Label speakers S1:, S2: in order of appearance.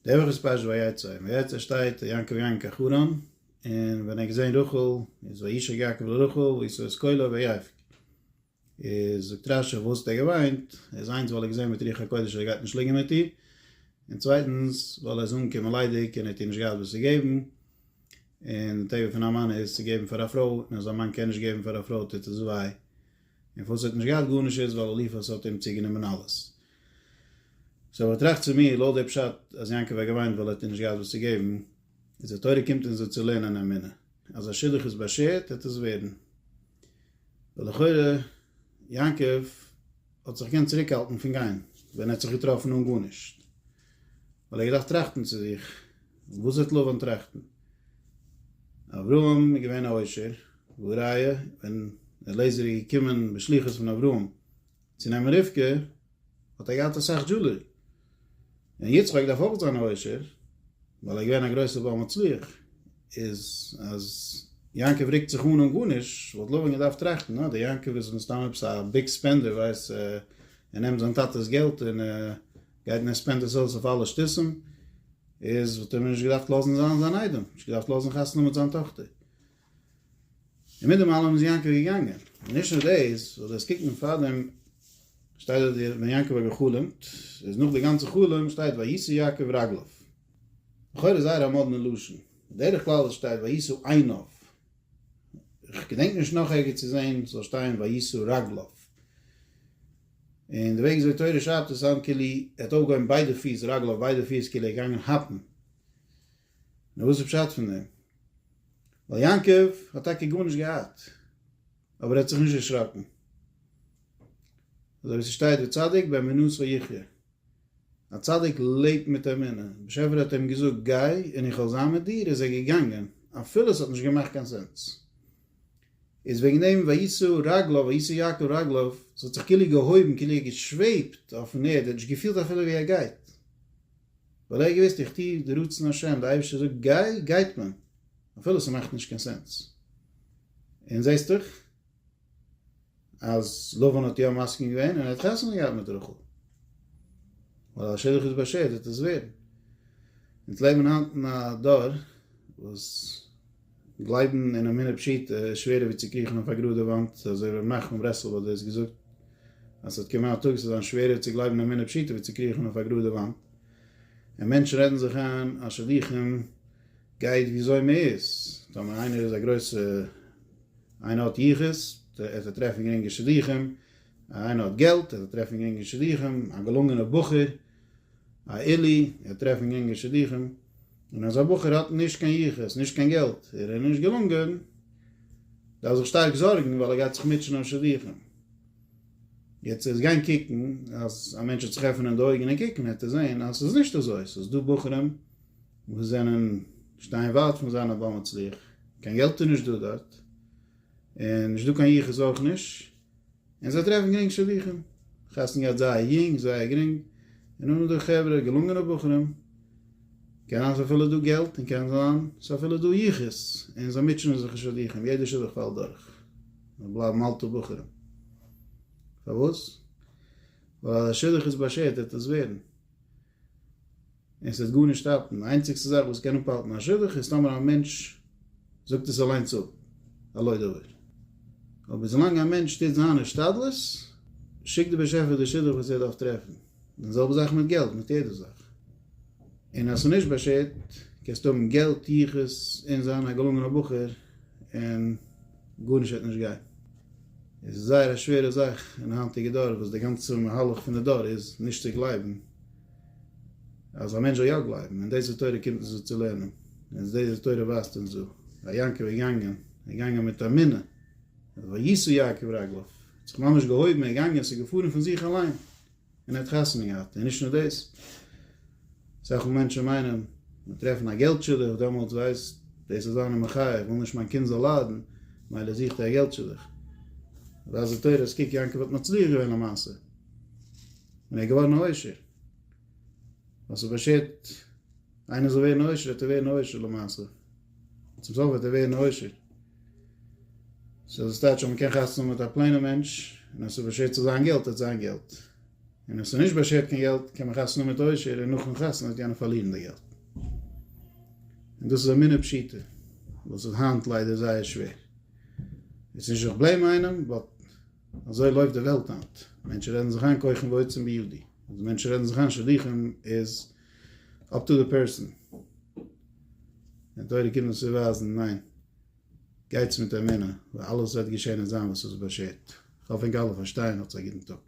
S1: דער וואך איז פרשת ויצא, אין ויצא שטייט יעקב געגאנגען קיין חרן, און ווען ער האט געזען רחל, איז וישק יעקב לרחל וישא את קולו ויבק, איז זאגט רשי פארוואס האט ער געוויינט, איז איינס ווייל ער האט געזען מיט רוח הקודש אז ער גייט נישט ליגן מיט איר, און צווייטנס ווייל ער איז אנגעקומען ליידיג און ער האט איר נישט געהאט וואס צו געבן, און די טבע פון א מאן איז צו געבן פאר א פרוי, און אז א מאן קען נישט געבן פאר א פרוי טוט עס וויי, און פארוואס ער האט נישט געהאט גארנישט איז ווייל אליפז האט אים צוגענומען אלעס. סאו איך טראכט צו מיר, לויט די פשט אז יעקב האט געוויינט ווייל ער האט איר נישט געהאט וואס צו געבן, איז די תורה קומט אונז דא צו לערנען אמונה, אז א שידוך איז באשערט העט עס ווערן, ווייל לכאורה יעקב האט זיך געקענט צוריק האלטן פון גיין ווען ער האט זיך געטראפן אן גארנישט, ווייל ער האט געדארפט טראכטן צו זיך, וואס וועט לבן טראכטן? אברהם איז געווען א עושר, והא ראיה ווען אלעזר איז געקומען בשליחות פון אברהם, צו נעמען רבקה האט ער געהאט אסאך דזשולערי, און יצחק דארף אויך זיין עושר ווייל ער איז געווען א גרויסער בעל מצליח, איז אז יעקב רוקט זיך אן אן גארנישט וואלט לבן געדארפט טראכטן אה דער יעקב איז מסתם עפעס א ביג ספענדער ווייסט ער נעמט זיין טאטעס געלט און גייט און ער ספענדט עס אויס אויף אלע שטותים, איז וואלט ער מיר נישט געדארפט לאזן זיין זיין איידעם, נישט געדארפט לאזן חתונה מיט זיין טאכטער. און מיט דעם אלעם איז יעקב געגאנגען, און נישט נאר דאס, זאל דאס קוקן פארדעם שטייט דארט ווען יעקב האט גע'חלומ'ט, איז נאך די גאנצע חלום שטייט וישא יעקב רגליו, לכאורה איז זייער א מאדנע לשון, בדרך כלל וואס שטייט וישא עיניו, איך געדענק נישט נאך ערגעץ צו זען ס'זאל שטיין וישא רגליו, און די וועג וויאזוי תורה שרייבט עס סאונד כאילו ער האט אויפגעהויבן ביידע פיס, רגליו ביידע פיס כאילו ער איז געגאנגען האפן. נו וואס איז פשט פון דעם? ווייל יעקב האט טאקע גארנישט געהאט, אבער ער האט זיך נישט דערשראקן, אזוי ווי ס'שטייט וצדיק באמונתו יחיה, א צדיק לעבט מיט אמונה, באשעפער האט אים געזאגט גיי און איך וועל זיין מיט דיר איז ער געגאנגען, אפילו ס'האט נישט געמאכט קיין סענס, איז וועגן דעם וישא רגליו וישא יעקב רגליו, ס'האט זיך כאילו געהויבן כאילו ער האט געשוועבט אויפן ערד, ער האט נישט געפילט אפילו ווי ער גייט. ווייל ער האט געוואוסט איך טו די רצון השם, די אייבערשטער זאגט גיי, גייט מען, אפילו ס'מאכט נישט קיין סענס. און זעהסט דאך אז לבן האט יא מסכים געווען און ער האט חתונה געהאט מיט רחל. ווייל א שידוך איז באשערט וועט עס ווערן. אונז לעבן היינט אין א דור וואס. גלייבן אין אמונה פשוטה איז שווערער ווי צו קריכן אויף א גראדע וואנט, אזוי ווי ר' נחמן ברסלב האט דאס געזאגט, אז ס'וועט קומען א טאג ס'וועט זיין שווערער צו גלייבן אין אמונה פשוטה ווי צו קריכן אויף א גראדע וואנט, און מענטשן רעדן זיך איין אז שלוחים גייט וויאזוי מ'איז, טאמער איינער איז א גרויסע איינער האט יחוס, עט ער טרעפן גרינגע שלוחים, איינער האט געלט, עט ער טרעפן גרינגע שלוחים, א געלונגענע בחור. א עלי', ער טרעפן יונגע שידוכים, און אזא בחור האט נישט קיין יחוס, נישט קיין געלט, ער איז נישט געלונגען, דארף זיך שטארק זארגן ווייל ער גייט זיך מוטשען אויף שידוכים. יעצט ער איז געווען קוקן, אז א מענטש וועט זיך עפענען די אויגן און קוקן, וועט ער זען אז ס'איז נישט אזוי, ס'איז דא בחורים וואס זענען, שטייען ווייט פון זיין א בעל מצליח, קיין געלט איז נישט דא דארט, און נישט דא קיין יחוס אויך נישט, און זיי טרעפן גרינג שידוכים, חתונה געהאט זייער יונג, זייער גרינג, און אן דא חברה, געלונגענע בחורים, קען זיין ס'איז אפילו דא געלט, און קען זיין ס'איז אפילו דא יחוס, און זיי מוטשענען זיך אין שידוכים, יעדע שידוך פאלט דורך, און בלייבן אלטע בחורים. פארוואס? ווייל אז א שידוך איז באשערט וועט עס ווערן. און ס'וועט גארנישט האלטן. די איינציגסטע זאך וואס קען אפהאלטן א שידוך איז טאמער א מענטש זאגט עס אליינס אפ על לא דבר. אבער ווילאנג א מענטש טוט זיין השתדלות, שיקט דער באשעפער די שידוך וואס ער דארף טרעפן. די זעלבע זאך מיט געלט, מיט יעדע זאך. און אז ס'איז נישט באשערט, קענסטו האבן געלט, יחוס, און זיין א געלונגענער בחור, און גארנישט וועט נישט גיין. עס איז זייער א שווערע זאך אין היינטיגע דור וואס די גאנצע מהלך פון די דור איז נישט צו גלייבן אז א מענטש זאל יא גלייבן און דאס איז תורה קומט אונז דא צו לערנען און דאס איז תורה ווייזט אונז דא אז יעקב איז געגאנגען ער איז געגאנגען מיט אמונה וישא יעקב רגליו ער האט זיך ממש געהויבן ער איז געגאנגען עס איז געפארן פון זיך אליין. און ער האט חתונה געהאט, און נישט נאר דאס, אסאך מאל מענטשן מיינען מען טרעפן א געלט שידוך, דעמאלטס ווייסט דאס איז אן מחאה, איך וויל נישט מיין קינד זאל ליידן, מילא זוכט ער א געלט שידוך. רזי תורות קוק יעקב האט מצליח געווען למעשה, און ער איז געווארן א עושר, וואס איז באשערט איינער זאל ווערן א עושר, וועט ער ווערן א עושר למעשה. צום סוף וועט ער ווערן עושר. סאו דאס טייטש אז מען קען חתונה האבן מיט א פלעינע מענטש, און אז ס'איז באשערט צו זיין געלט האט זיין געלט, און אז ס'איז נישט באשערט קיין געלט קען מען חתונה האבן מיט עושר און נאכן חתונה וועט יענער פארלירן די געלט. און דאס איז אמונה פשוטה וואס איז היינט ליידער זייער שווער. איז נישט איך בלעים איינעם באט אזוי לויפט די וועלט היינט. מענטשן רעדן זיך איין כוחם ועוצם בידי. אז מענטשן רעדן זיך איין שידוכים איז אפ טו די פערסאן. די תורה קומט אונז צוווייזן, ניין, גייטס מיט אמונה, ווייל אלעס וועט געשען און זיין וואס איז באשערט. כ'האף ענק אלע פארשטייען, האטס א גוטן טאג.